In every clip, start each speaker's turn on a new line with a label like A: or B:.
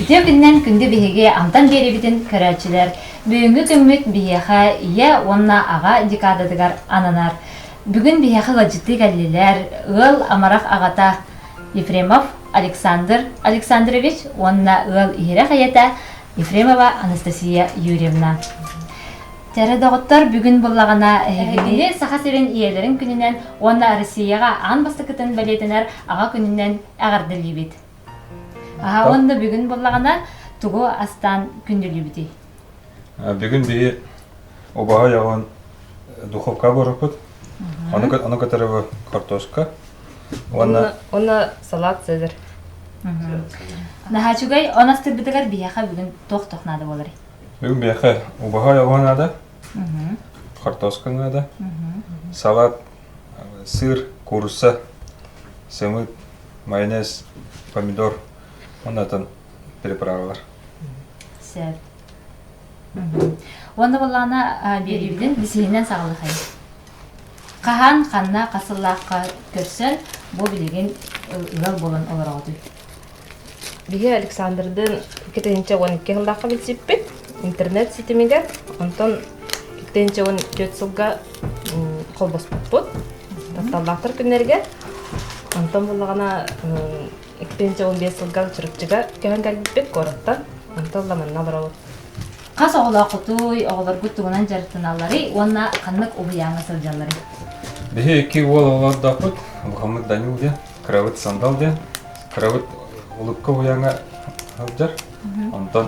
A: Үтүө күнүнэн күндү биһиги амтан биэрибитин көрөөччүлэр бүгүҥҥү күммүт биһиэхэ ийэ уонна аҕа декадатыгар ананар. Бүгүн биһиэхэ ыалдьыттыы кэллилэр ыал амарах аҕата Ефремов Александр Александрович уонна ыал иһирэх ийэтэ Ефремова Анастасия Юрьевна. Тәрэ доҕоттор бүгүн буллаҕына эһигини Саха сирин ийэлэрин күнүнэн уонна Россияҕа аан бастакытын бэлиэтэнэр аҕа күнүнэн эҕэрдэлиибит. Аха онно бүгүн буллаҕына тугу астаан күндүлүүбүтүй? Бүгүн
B: биһи убаһа яҕын духовка буоруппут. Ону которого картошка. Уонна
C: Уна салат цезарь.
A: Нахачугай онастырбытыгар биһэхэ бүгүн тох-тох надо болар. Бүгүн биһэхэ
B: убаһа яҕын надо. Картошка надо. Салат, сыр, курса, сымыт, майонез, помидор уонна атын переправалар.
A: Сөп. Уонна боллаана биэриибитин бисиһинэн саҕалахай. Хаһан, ханна хасыллаахха көрсөн, бу билигин ыал буолан олороҕутуй.
C: Биһи Александрдыын кытынча уон икки сыллаахха билсиппит. интернет ситимигэр онтон иккитин чыгын түөрт сылга холбоспуппут тапталлаахтар күннэригэр онтон буллаҕына иккитин чыгын биэс сылга чырыкчыга көһөн кэлбиппит куораттан онтон ламанна олоробут хас
A: оҕолооххутуй оҕолоргут тугунан дьарыктаналларый уонна ханнык уһуйааҥҥа сылдьалларый биһи икки
B: уол олордохпут бухаммыт данил диэн кырабыт сандал диэн кырабыт улукка уһуйааҥҥа сылдьар онтон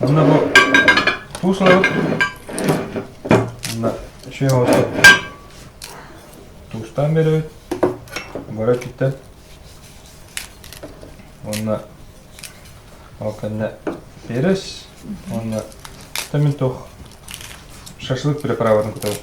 B: Манна бу туус ылабыт уонна сүөм оттоп туустаан биэрэбит бары өттүттэн уонна ол кэннэ перес уонна томентох шашлык переправатын кутабыт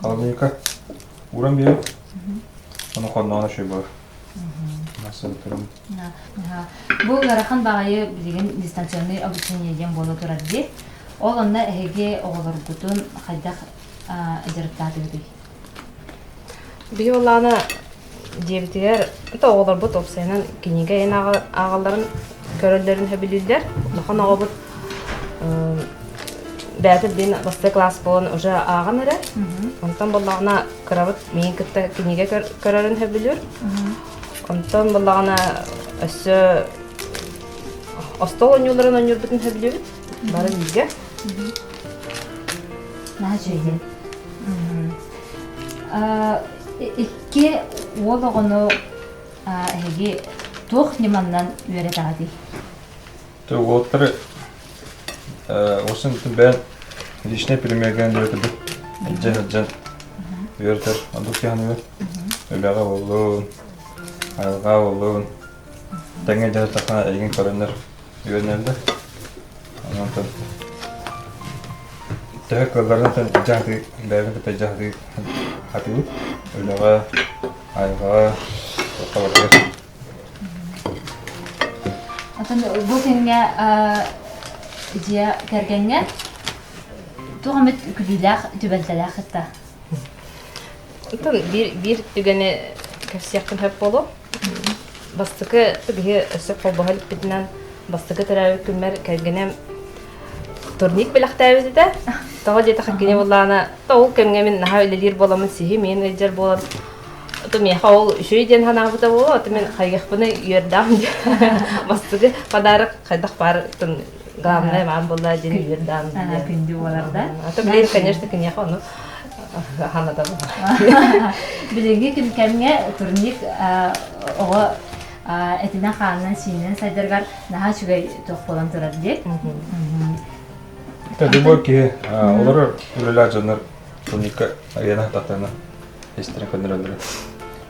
B: Халанайка ууран биэрэр. Ону хонноҕун өшөй бар. Массыынтырым.
A: Бу ыарахан баҕайы билигин дистанционный обучение диэн буола турар дии. Ол онно эһиги оҕолоргутун хайдах дьарыктаатыгытый?
C: Биһи олаана диэбитигэр кыта оҕолорбут уопсайынан кинигэ эн ааҕалларын көрөллөрүн сөбүлүүллэр улахан оҕобут бэйэтэ блин бастакы класс буолан уже ааҕан эрэр онтон буоллаҕына кырабыт миин кытта кинигэ көрөрүн сөбүлүүр онтон буоллаҕына өссө остол оонньууларын оонньуурбутун сөбүлүүбүт бары бииргэ
A: наһаа Икки уол оҕону эһиги туох ньыманнан үөрэтэҕитий?
B: Уолтар осы бэйэн личнэй премьергэнэн үөрэтэрбит илдьэн сылдьан үөрэтэр. Оннук сиһаныгар үлэҕэ буоллун, айылҕаҕа буоллун, Тэҥэ идэлэрэ саха эйигин көрөннөр үөрэнэллэр. Онтон төһө кыалларынан дьаһатыы, бэйэбин кытта дьаһатыы атыыбыт. Үлэҕэ, айылҕаҕа, табаргар.
A: Атын бу күҥҥэ дьиэ кэргэҥҥэ туох эмит күлүүлээх, түбэлтэлээх кытта? Оттон
C: биир биир түгэни кэпсиэхпин сөп буолуо? Бастакы биһи өссө холбоһо иликпитинэн бастакы төрөөбүт күммэр кэргэним турник бэлэхтээбит этэ. Тоҕо диэтэххэ кини буллаана то ол кэмҥэ мин наһаа үлэлиир буоламмын сиһим иэн ыйдьар буолан то миэхэ ол үчүгэй диэн санаабыта буолуо, то мин хайгахпыны үөрдэҕим диэн бастакы подарок хайдах баар дааннай маан булла дин үөр даан диэн күндү боларда
A: ата билир конечно
C: киниэхэ ону ханатан
A: билинги күнкэмҥэ турник оҕо этинэ хаанынан сиинен сайдаргар наһаа үчүгэй тоқ болан турар диэк
B: Тадыбо ки олар үлелер жанар турникка арена татана истерин көннөрөлөрө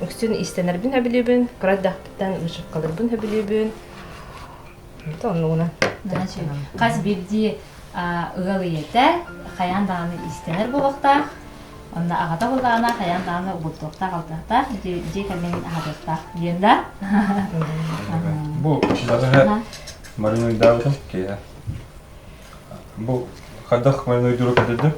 C: үксүн иистэнэрбин өбүлүүбүн, кыра эрдэхпиттэн вышивкаларбын өбүлүүбүн. Эбэтэ оннугуна. Хас
A: бирдии ыал ийэтэ хайаан даҕаны иистэнэр буолуохтаах, онно аҕата былаана хайаан даҕаны угуттуохтаах, алтыахтаах, дьиэ кэргэҥҥин аһатыахтаах диэн да.
B: Бу балыһа маринуйдаабытым киһи. Бу хайдах маринуйдууру көтүрдүм?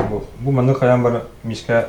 B: Бу бу маны хайаан бар миискэ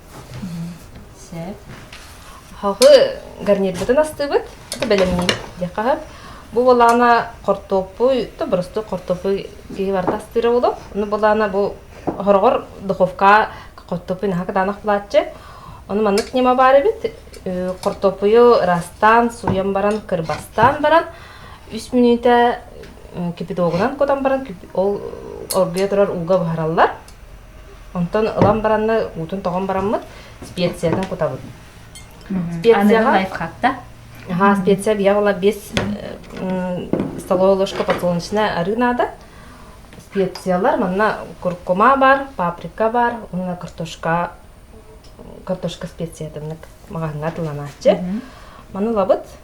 A: Сээп.
C: Хаҕы гарнирбытын астыыбыт. Это бэлэмниир диэххэ сөп. Бу балаана хортуоппуй, то боростук хортуоппуй киһи барыта астыыра болов. Ону балаана бу хороҕор духовка хортуоппуй наһаа кытаанах былааччы. Ону маннык ньыма баарыбыт. Хортуоппуйу ыраастаан, сууйан баран, кырбастаан баран, үс мүнүүтэ кипятогунан кутан баран ол оргуйа турар ууга буһараллар. Онтон ылан баранна, уутун тоҕон бараммыт, специятын кутабыт.
A: Специяҕа лайфхакта. Аха, специя
C: бия была без столовая ложка подсолнечная арыы наада. Специялар манна куркума бар, паприка бар, уна картошка картошка специятыннык маҕаһыҥҥа тыланааччы. Маны лабыт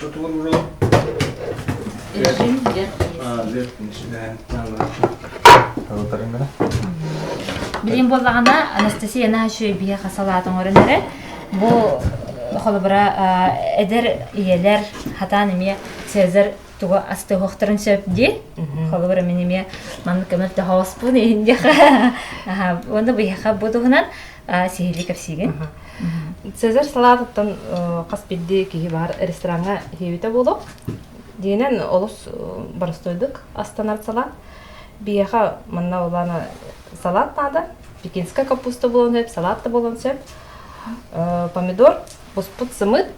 B: Тутуурга Эргин
A: дьэр киһи. Лепкинс үлэһэн Талытарыҥара. Билим боллаҕына Анастасия наһаа үчүгэй биһиэхэ салаат оҥорон эрэ бу холобура эдэр ийэлэр хатаан эмиэ Цезарь тугу астыһыахтарын сөп диэн холобур эмин эмиэ маннык көмөр да хооспун иһин диэхэ уонна быйаха бу туһунан сиһилии кэпсиигин Цезарь
C: салаатыттан хас бирди киһи бар рестораҥа хиэбитэ болук диэнен олус барыстойдук астанар салат бияха манна олана салат нада пекинская капуста болон сөп салат да болон сөп помидор буспут сымыт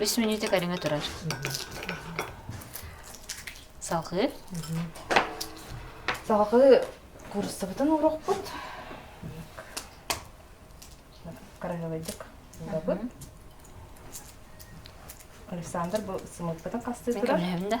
C: Үс
A: мүнүүтэ көрүҥэ турар. Салҕыы.
C: Салҕыы курсабытын урукпут. Хараһылайдык урабыт. Александр бу сымылпытын хастыы турар. Мен көрнөһөбүн да.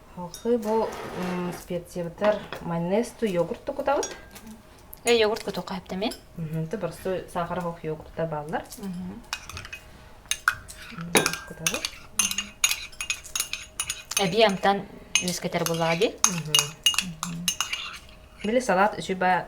C: Халхы бу специябытар майонезту йогурту кутабыт. Э йогурт
A: куту каптами. Ты простой
C: сахар хох йогурта баллар. Кутабыт.
A: Эби амтан үскетер буллаҕа ди.
C: Били салат үчү ба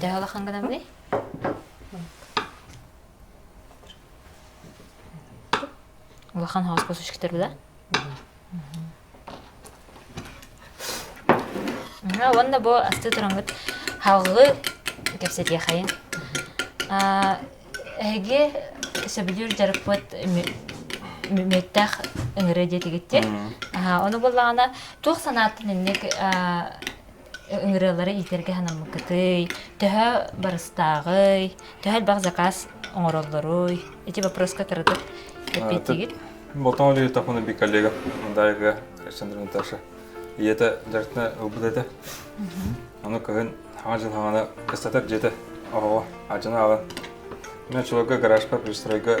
A: Дьэ улахан гынан били. Улахан хаос косушкитер да. Уонна бу асты турангыт халлы кэпсэтиэхайын. Эһиги сөбүлүүр жарыппыт мүмүттэх ыҥыры диэтигитти. Ону буллаҕына туох санааттан инник ыҥырыалары иитэргэ санаммыккытый төһө барыстааҕый төһө элбэх заказ оҥороллоруй эти вопроска кыратык эппиэттиигит
B: Мотоолитовна коллега Дайга Александровна Наташа ийэтэ дьарыктана ылбыт этэ аны кыһын хаҥа дьылҕаҕана кыстатар дьиэтэ оҕоҕо ардьана ааҕан мен чулуурга гаражка пристройга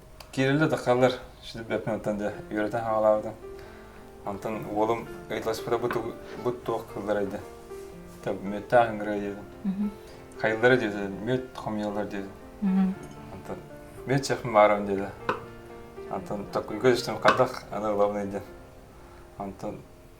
B: Киирэллэр да хааллар шидбеппин оттон дьэ үөрэтэн хаалаабытым. Онтон уолум ыйыталаспыта бу бу туох кылларай дэ. Та мүөттаах ынгырыа диэбин. Хайыллара диэтэ мүөт хомуйаллар диэтэ. Онтон мүөт чэхим баарым диэтэ. Онтон tokkуйга түстüm хадах аны ылабын ыйдын. Онтон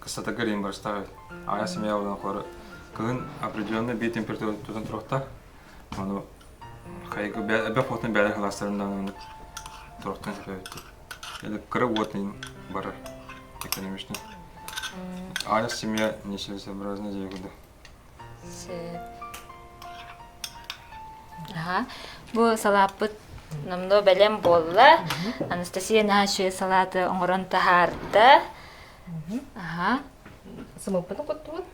B: кыстатарга рим барыстаах аҕа семья олоҕор кыһын определенный бии температура тутан туруохтаах ону хайгы эбэх уотун бэйэлэр халаастарын даҕаны туруохтан сөптөөхтүк кыра уотун барар экономичный аня семья неселесообразная дьиэ
A: Аха, бу салааппыт номнуо бэлэм буолла. Анастасия наши салааты оҥорон таһаарда. Аха.
C: Сымыппытын куттубут,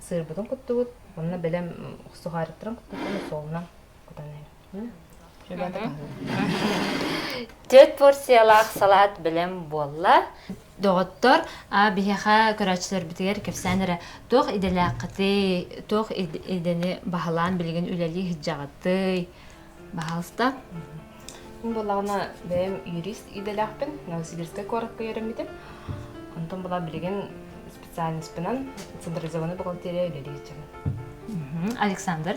C: сыырбытын куттубут, онно бэлэм охсуһаарыттарын куттубут, солунан кутан
A: Төрт порциялаах салаат білем буолла. Доҕоттор, а биһиэхэ көрөөччүлэрбитигэр кэпсээн эрэ туох идэлээххитий, туох идэни баһылаан билигин үлэлии сыдьаҕытый? Баһалста.
C: Булаҕына бэйэм юрист идэлээхпин Новосибирскай куоракка үөрэммитим. Онтон была билигин специальностпынан централизованный бухгалтерия үлэлии сылдьабын. Александр.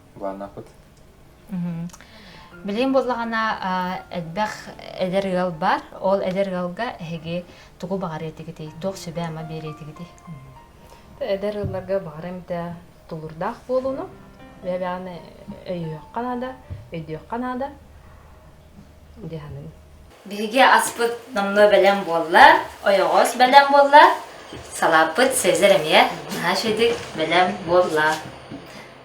B: Улаанапыт.
A: Билим буллаҕына элбэх эдэр ыал бар. Ол эдэр ыалга эһиги тугу баҕарыытыгытый? Туох сүбэ ама биэриэтигитий?
C: Эдэр ыалларга баҕара эмтэ тулурдаах буолууну бэбэҕэни өйүөххэ наада, өйдүөххэ наада диэхэнин. Биһиги
A: аспыт номнуо бэлэм буолла, ойоҕос бэлэм буолла, салааппыт Сезар эмиэ наһаа бэлэм буолла.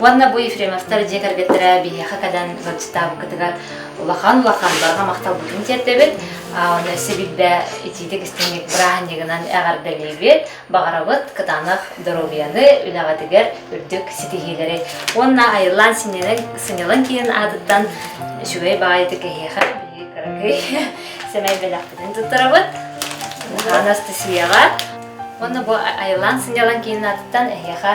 A: Уонна бу Ефремовтар дьиэ кэргэттэрэ биһиэхэ кэлэн зачитаабыккытыгар улахан-улахан барҕа махталбытын тиэрдэбит. Оны өссө билбэ итиитик истиҥник бырааһынньыгынан эҕэрдэлиибит, баҕарабыт кытаанах доруобуйаны, үлэҕитигэр үрдүк ситиһиилэри. Уонна айыллаан сынньалаҥ киһин аатыттан үчүгэй баҕайытык эһиэхэ биһиги кыракый сэмэй бэлэхпитин туттарабыт. Анастасияҕа. Уонна бу айыллаан сынньалаҥ киһин аатыттан эһиэхэ